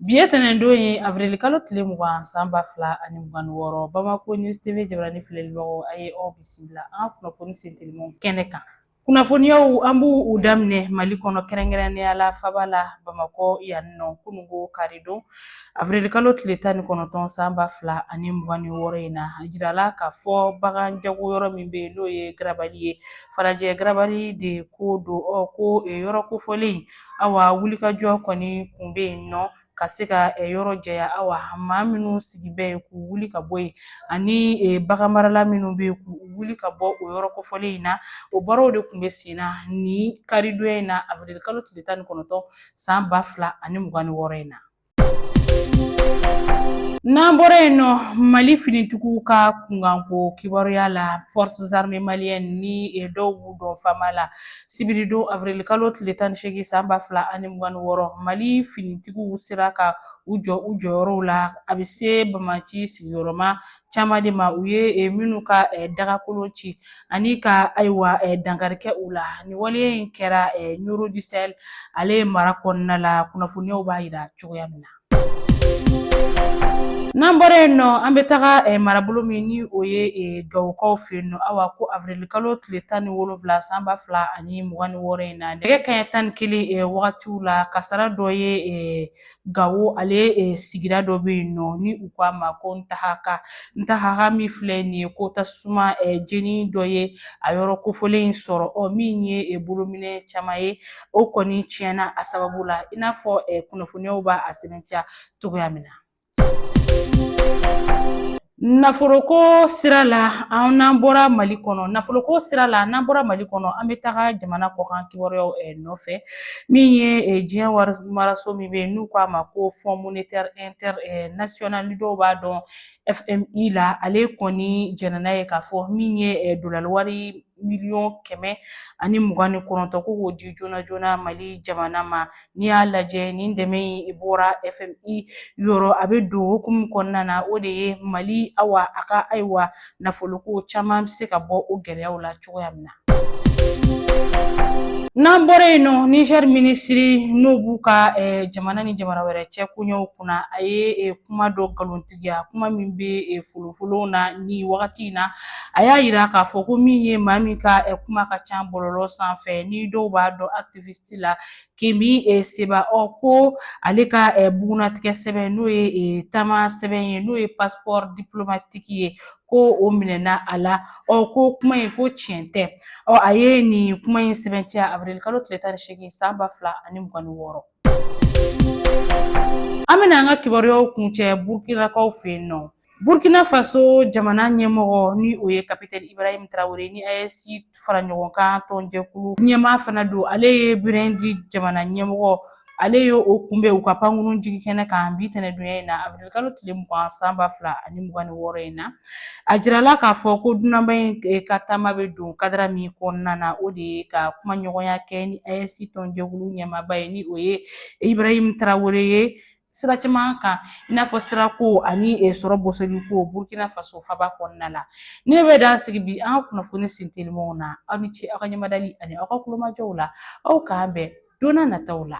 Bi ye tɛnɛndon ye avril kalo tile mugan san ba fila ani mugan ni wɔɔrɔ Bamako News TV jabarani filɛlibagaw a ye aw bisimila an ka kunnafoni sentelimanw kɛnɛ kan. Kunnafoniyaw an b'u daminɛ Mali kɔnɔ kɛrɛnkɛrɛnnenya la faba la Bamakɔ yan nɔ kunungo karidon avril kalo tile tan ni kɔnɔntɔn san ba fila ani mugan ni wɔɔrɔ in na a jirala k'a fɔ bagan jago yɔrɔ min bɛ yen n'o ye garabali ye Falajɛ garabali de ko don ɔ ko yɔrɔ kofɔlen awa wulikajɔ kɔni kun bɛ yen nɔ ka se ka yɔrɔ jɛya awa maa minnu sigi bɛ yen k'u wuli ka bɔ yen ani bagan marala minnu bɛ yen k'u wuli ka bɔ o yɔrɔ kofɔlen in na o baaraw de tun bɛ sen na ni karidonya in na avril kalo tile tan ni kɔnɔntɔn san ba fila ani mugan ni wɔɔrɔ in na N'an bɔra yen nɔ mali finitigiw ka kunkanko kibaruyaw la Forces armées maliennes ni dɔw b'u dɔn FAMa la sibiridon avril kalo tile tan ni seegin san ba fila ani mugan ni wɔɔrɔ mali finitigiw sera ka u jɔ u jɔyɔrɔw la a bɛ se banbaanci sigiyɔrɔ ma caman de ma u ye minnu ka dagakolon ci ani ka ayiwa dankari kɛ u la nin waleya in kɛra Nioro du Sahel ale ye mara kɔnɔna la kunnafoniyaw b'a jira cogoya min na. N'an bɔra yen nɔ an bɛ taga eh, marabolo min ni o ye eh, gawokaw fɛ yen nɔ awa ko avirilikalo tile tan ni wolonwula san ba fila ani mugan ni wɔɔrɔ in na nɛgɛ kaɲɛ tan ni kelen eh, wagatiw la kasara dɔ ye Gawo ale e, sigida dɔ bɛ yen nɔ ni u k'a ma ko Ntahaka Ntahaka min filɛ nin ye ko tasuma e, jeni dɔ ye a yɔrɔ kofɔlen in sɔrɔ ɔ min ye e, bolominɛn caman ye o kɔni tiɲɛna a sababu la i n'a fɔ e, kunnafoniyaw b'a sɛbɛntiya cogoya min na. Nafoloko sira la an n'an bɔra mali kɔnɔ nafoloko sira la n'an bɔra mali kɔnɔ an bɛ taga jamana kɔkan kibaruyaw eh, nɔfɛ min ye eh, diɲɛ wari maraso min bɛ n'u k'a ma ko fond monétaire inter eh, national ni dɔw b'a dɔn FMI la ale kɔni jɛnna n'a ye k'a fɔ min ye dolari wari miliyɔn kɛmɛ ani mugan ni kɔnɔntɔn ko k'o di joona joona mali jamana ma n'i y'a lajɛ nin dɛmɛ in bɔra FMI yɔrɔ a bɛ don hukumu min kɔnɔna na o de ye mali awa a ka ayiwa nafoloko caman bɛ se ka bɔ o gɛlɛyaw la cogoya min na N'an bɔra yen nɔ Niger minisiri n'o b'u ka eh, jamana ni jamana wɛrɛ cɛ koɲɛw kunna a ye eh, kuma dɔ nkalon tigiya kuma min bɛ folofolonw na ni wagati in na a y'a yira k'a fɔ ko min ye maa min ka kuma ka ca bɔlɔlɔ sanfɛ ni dɔw b'a dɔn activiste la Kemi Seba ɔ ko ale ka bugunnatigɛ sɛbɛn n'o ye taama sɛbɛn ye n'o ye passeport diplomatique ye ko o minɛna a la ɔ ko kuma in ko tiɲɛ tɛ ɔ a ye nin kuma in sɛbɛntiya avril kalo tile tan ni seegin san ba fila ani mugan ni wɔɔrɔ An bɛna an ka kibaruyaw kuncɛ Burkinakaw fɛ yen nɔ. Burkina Faso jamana ɲɛmɔgɔ ni o ye Kapitɛni Ibarahim Tarawele ni AES fara ɲɔgɔn kan tɔnjɛkulu ɲɛmaa fana don. Ale ye Burundi jamana ɲɛmɔgɔ ale ye o kunbɛn u ka pankurun jigikɛnɛ kan bi tɛnɛdonya in na awirili kalo tile mugan san ba fila ani mugan ni wɔɔrɔ in na. A jirala k'a fɔ ko dunanba in eh, ka taama bɛ don kadara min kɔnɔna na o de ye ka kumaɲɔgɔnya kɛ ni AES tɔnjɛkulu ɲɛmaaba ye ni o ye Ibrahim Tarawele ye sira caman kan i n'a fɔ sirako ani eh, sɔrɔ bosoliko Burkina Faso faba kɔnɔna la ne bɛ dan sigi bi an ka kunnafoni sintelimaw na aw ni ce aw ka ɲɛmadali ani aw ka kulomajɔw la aw k'an bɛn don nataw la